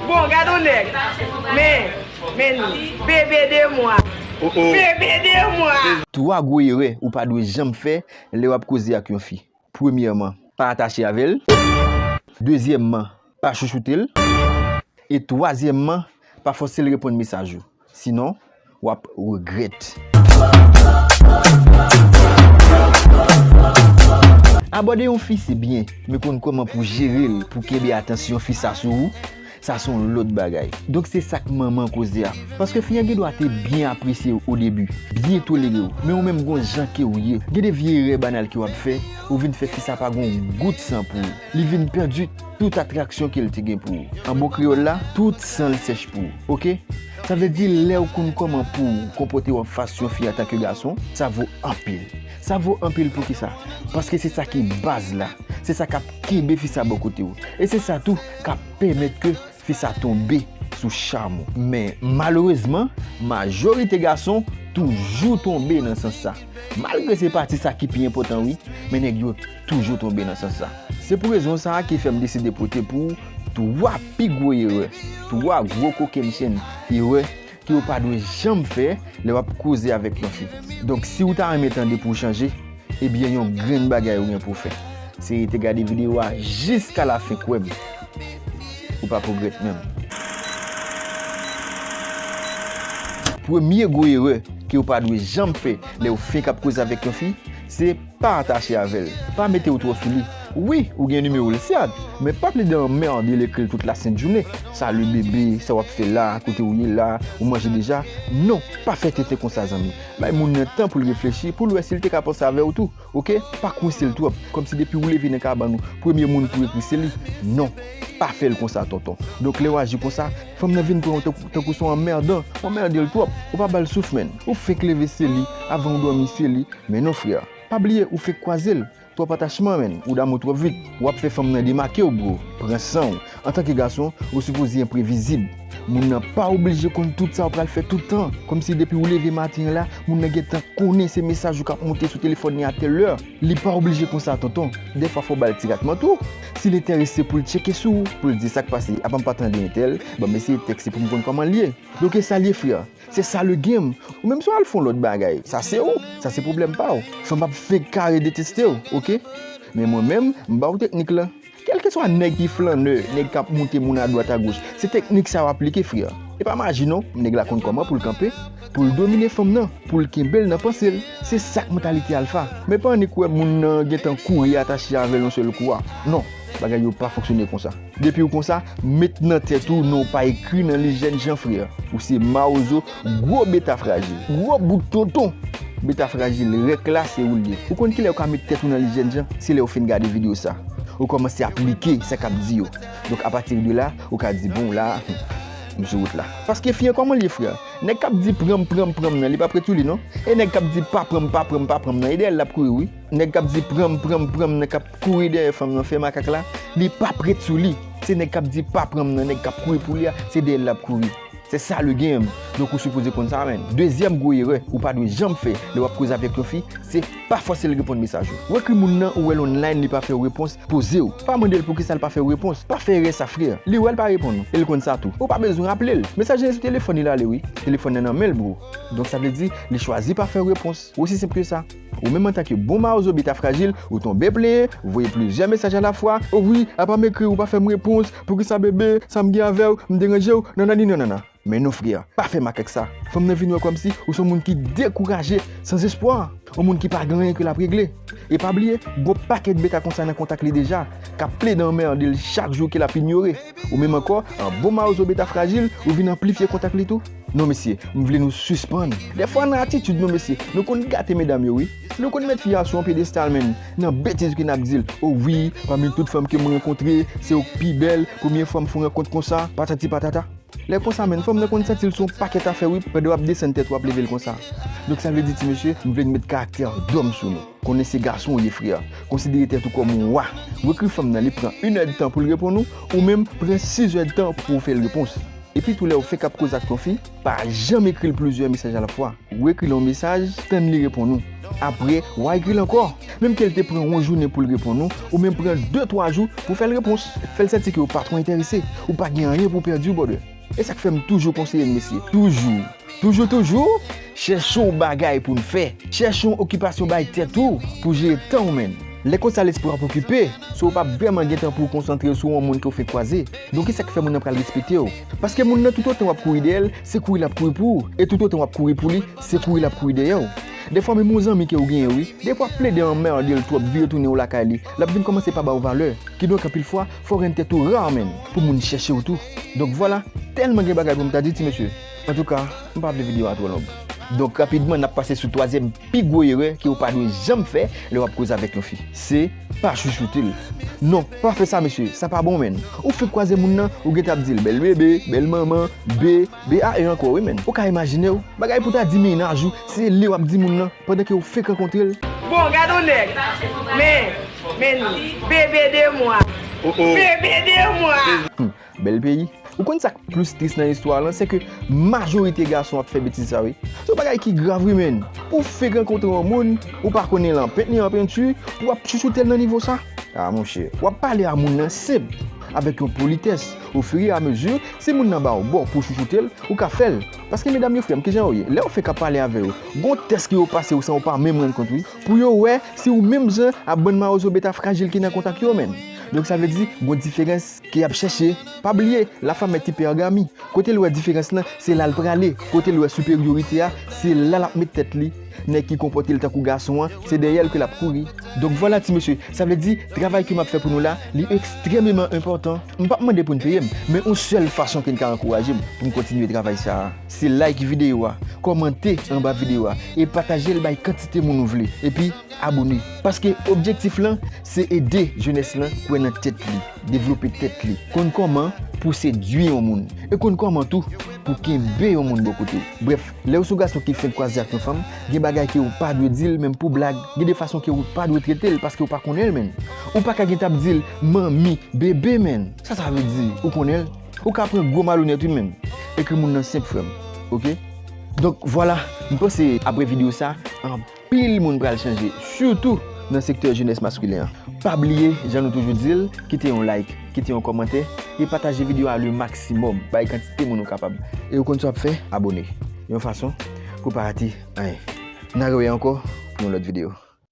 Bon gad on nèg men men li bébé de moi bébé de moi. Twa gwo erè ou pa dwe janm fè lè w ap koze ak yon fi. Premyèman. Pa atache avè l. Dezyèmman. Pa chouchoute l. E twazyèmman. Pa fòse l reponn mesaj ou. Sinon wap regrèt. Abòde yon fi se byen, men konn kòman pou w jere l pou w kenbe atansyon fi sa sou ou, sa se yon lòt bagay. Donk se sa k manman koze a. Paske fi an gen dwa te byen apresye w odebi, byen tolere w, men ou menm gon jan ke w ye, gen de vye erè banal ke w ap fè, ou vin fè fi sa pa gon gout san pou ou. Li vin pèdi tout atraksyon ke l te gen pou ou. An bon kreyòl la, tout san l sèch pou ou. Oke? Sa vle di lè ou konn kòman pou w konpòte w an fas yon fi antanke gason, sa vo anpil. Sa vo anpil poukisa? Paske se sa ki baz la. Se sa k ap kenbe fi sa bò kote w. E se sa tou k ap pèmèt ke. Fi sa tonbe sou cham ou. Men malerezman, majorite gason toujou tonbe nan sans sa. Malgre se pati sa ki pi enpotan wi, men nèg yo toujou tonbe nan sans sa. Se pou rezon sa ki fè m deside pote pou ou 3 pi gwo erè, 3 gwo kokennchenn erè ke ou pa dwe janm fè lè wap koze avèk yon fi donk si ou ta renmen tande pou ou chanje ebyen yon grenn bagay ou gen pou ou fè se rete gade video a jiska la fen kwèm ou pap regrèt menm. Premye gwo erè ke ou pa dwe janm fè lè ou fenk ap koze avèk yon fi se. Pa atache avèl, pa metew twò sou li. Wi ou gen numéro l syad men pa plede anmerde l ekril tout la sent jounen salut bébé sa wap fè la kote ou ye la ou manje deja non pa fè tenten konsa zanmi bay moun nan tan poul reflechi poul wè sil te ka panse avèw tou ok pa kwensel twòp kòmsi depiw leve nan kabann ou premye moun pou ekri se li non pa fèl konsa tonton donk lèw aji konsa Fanm nan vin pranw tankou son anmerdan, w anmerdel twòp, ou pa bal souf menn, ou fenk leve se li, avan ou dòmi se li, men non frè, pa bliye ou fenk kwazel, twòp atachman menn, ou damou twòp vit, wap fè fanm nan demakew bro, pran sanw, antanke gason ou sipoze enprevizib, moun nan pa oblije konn tout sa ou pral fè tout tan, kòmsi depiw leve maten an la, moun nan gentan konnen se mesaj ou kap moute sou telefòn li a tèl lè, li pa oblije konsa tonton, dèfwa fòw bal ti ratman tou. Si l enterese pou l tcheke sou ou, pou l di sak pase apa m pa tande entèl, banm eseye tèks se pou m konn kòman l ye. Donk esa l ye frè, se sa le game, ou menm si w al fon lòt bagay, sa se ou, sa se pwoblèm pa w. Fanm ap fenk kare deteste w ok, men mwen menm m ba w teknik lan. Kèlkeswa nèg ki flannè, nèg k ap moute moun adwat agoch, se teknik sa w aplike frè, e pa maji non, nèg la konn kòman pou l kanpe. Pou l domine fanm nan, pou l kenbe l nan panse l, se sa k mantalite alfa. Men pa annik wè moun nan gen tan kouri atache avè l yon sèl kou a. Non, bagay yo pa fonksyone konsa. Depi w konsa, met nan tèt ou non w pa ekri nan lis jèn jan frè. Ou se mawozo, gwo beta frajil, gwo bout tonton! Beta frajil, rèk la, se ou l ye. Ou konn kilè ou ka met tèt ou nan lis jèn jan? Se lè ou fin gade videyo sa. Ou kòmanse aplike sa k ap di yo. Donk apatidela, ou ka di bon la, m sou wout la. Paske fi an kòman l ye frè? Nèg kap di pranm pranm pranm nan li pap ret sou li non e nèg kap di pa pranm pa pranm pa pranm nan e dèyèl lap kouri wi nèg kap di pranm pranm pranm nan kap kouri dèyè fanm nan fè makak la li pap ret sou li se nèg kap di pa pranm nan nèg kap kouri pou li a se dèyèl lap kouri se sa le game donk ou sipoze konn sa menn dezyèm gwo erè ou pa dwe janm fè lè wap koze avèk yon fi se. Pa fòse l reponn mesaj ou. Ou ekri moun nan ou wè l online li pa fè w repons, poze w. Pa mande l poukisa l pa fè w repons. Pa fè erè sa frè. Li wè l pa reponn ou e l konn sa tou. Ou pa bezwen raple l. Mesaj la sou telefòn li l ale wi. Telefòn nan nan men l bro. Donk sa vle di li chwazi pa fè w repons. Osi senp ke sa. Ou menm antan ke bon mawozo beta frajil, ou tonbe plenyen, voye plizyè mesaj alafwa, o wi apa m ekri w ou pa fè m repons, poukisa bebe, sa m gen avè w, m deranje w, nanani nanana. Men non frè, pa fè makak sa. Fanm nan vin wè kòmsi ou son moun ki dekouraje, san zespwa. On moun ki pa gen anyen ke l ap regle. E pa bliye, gon pakèt beta konsa nan kontak li deja, k ap plede anmède l chak jou ke l ap inyore. Ou menm ankò, an bon mawozo beta frajil, ou vin anplifye kontak li tou? Non mesye, m vle nou sispann. Dèfwa nan atitid nou mesye, nou konn gate medam yo wi. Nou konn met fi a sou on pyedestal menm, nan betiz ke n ap di l, O wi, pami tout fanm ke m rankontre, se ou k pi bèl, premye fwa m fon rankont konsa, patati patata. Lè konsa menn fanm nan konn santi l sou yon pakèt afè wi pandan wap desann tèt ou ap leve l konsa donk sa vle di ti mesye m vle n met karaktè an dòm sou nou konnen se gason ou ye frè konsidere tèt ou kòm ou wa ou ekri fanm nan li pran inèdtan pou l reponn ou ou menm pran sizèdtan pou w fè l repons epitou lè ou fenk ap koze ak yon fi pa janm ekri l plizyè mesaj alafwa. Ou ekri l yon mesaj, tann li reponn ou. Apre, w a ekri l ankò. Menm ke l te pran yon jounen pou l reponn ou, ou menm pran de twa jou pou w fè l repons. Fè l santi ke w pa twò enterese. Ou pa gen anyen pou w pèdi, brother. E sa k fè m toujou konseye n mesye, toujou, toujou toujou, chèche yon bagay pou n fè. Chèche yon okipasyon bay tèt ou pou w jere tan w menm. Lè konsa lespri w ap okipe, so w pa p vrèman gen tan pou w konsantre w sou yon moun ke w fenk kwaze. Donk e sa k fè moun nan pral respekte w. Paske moun nan toutotan w ap kouri dèyè l, Se kouri lap kouri pou ou e tout otan wap kouri pou li se kouri lap kouri dèyè ou. Dèfwa menm yon zanmi ke ou genyen wi, dèfwa wap plede anmerde l twòp vire tounen ou lakay li, lap vin kòmanse pa ba ou valè. Kidonk anpil fwa fò w rann tèt ou rar menm pou moun chèche w tou. Donk vwala, tèlman gen bagay pou m ta di ti mesye. Antouka, m pa vle videyo a twò long. Donk rapidman nap pase sou twazyèm Pi gwo erè ke ou pa dwe janm fè lè wap koze avèk yon fi, se pa chouchoute l. Non, pa fè sa mesye, sa pa bon menn. Ou fenk kwaze moun nan, ou gentan ap di l bèl bebe, bèl manman, be, be a e ankò wi menn. Ou ka imajine w, bagay pou ta di mennaj ou, se li wap di moun nan pandan ke ou fenk rankontre l. Bon, gad yon nèg, men, men li, bebe de mwa, bebe de mwa. Bèl peyi. Ou konn sak plis tris nan istwa lan se ke majorite gason ap fè betiz sa wi. Se yon bagay ki grav wi menn. Ou fek rankontre yon moun, ou pa konnen lan pent ni an penti, pou wap chouchoutel nan nivo sa? Ah monchè, wap pale a moun lan senp, avèk yon politès, o fur et à mesure, si moun lan baw bo pou chouchoutel, ou ka fèl. Paske medam yo frèm kijan yo ye, lèw fek ap pale avè yo, gon tès ke yo pasew san ou pa menm rann kont wi, pou yo wè si ou menm jan a bann mawozo beta frajil ki nan kontak yo menn. Donk sa vle di gon diferans. Ke yap chèche, pa bliye la femme est hypergamy, kote l wè diferans lan se la l prale, kote l wè superiorite a se la lap met tèt li, nèg ki konpòte l tankou gason an se dèyè l ke lap kouri. Donk vwala ti mesye, sa vle di travay ke map fè pou nou la li ekstrèmeman enpòtan, m pap mande pou n peye m, men yon sèl fason ke n ka ankouraje m pou m kontinye travay sa a, se like videyo a, kòmante anba videyo a e pataje l bay kantite moun ou vle, epi. Abone. Paske objektif lan se ede jenès lan kwè nan tèt li, devlope tèt li, konn kòman pou sedwi yon moun, e konn kòman tou pou kenbe yon moun bò kote w. Brèf, lè ou son gason ki fenk kwaze ak yon fanm, gen bagay ke ou pa dwe di l menm pou blag, gen de fason ke ou pa dwe trete l paske ou pa konnen l menn. Ou pa ka gen tan ap di l manmi, bebe menn. Sa sa vle di? Ou konnen l? Ou ka pran gwo malonèt wi menn. Ekri moun nan senp frè m. Ok. Donk vwala, m panse apre video sa, anpil. Pil moun pral chanje sitou nan sektè jenès maskilen an. Pa bliye jan nou toujou dil kite yon like, kite yon kòmantè e pataje video a le maksimòm bay kantite moun ou kapab. E ou konn sa wap fè abone yon fason pou pa rate anyen. N a rewè ankò pou yon lòt video.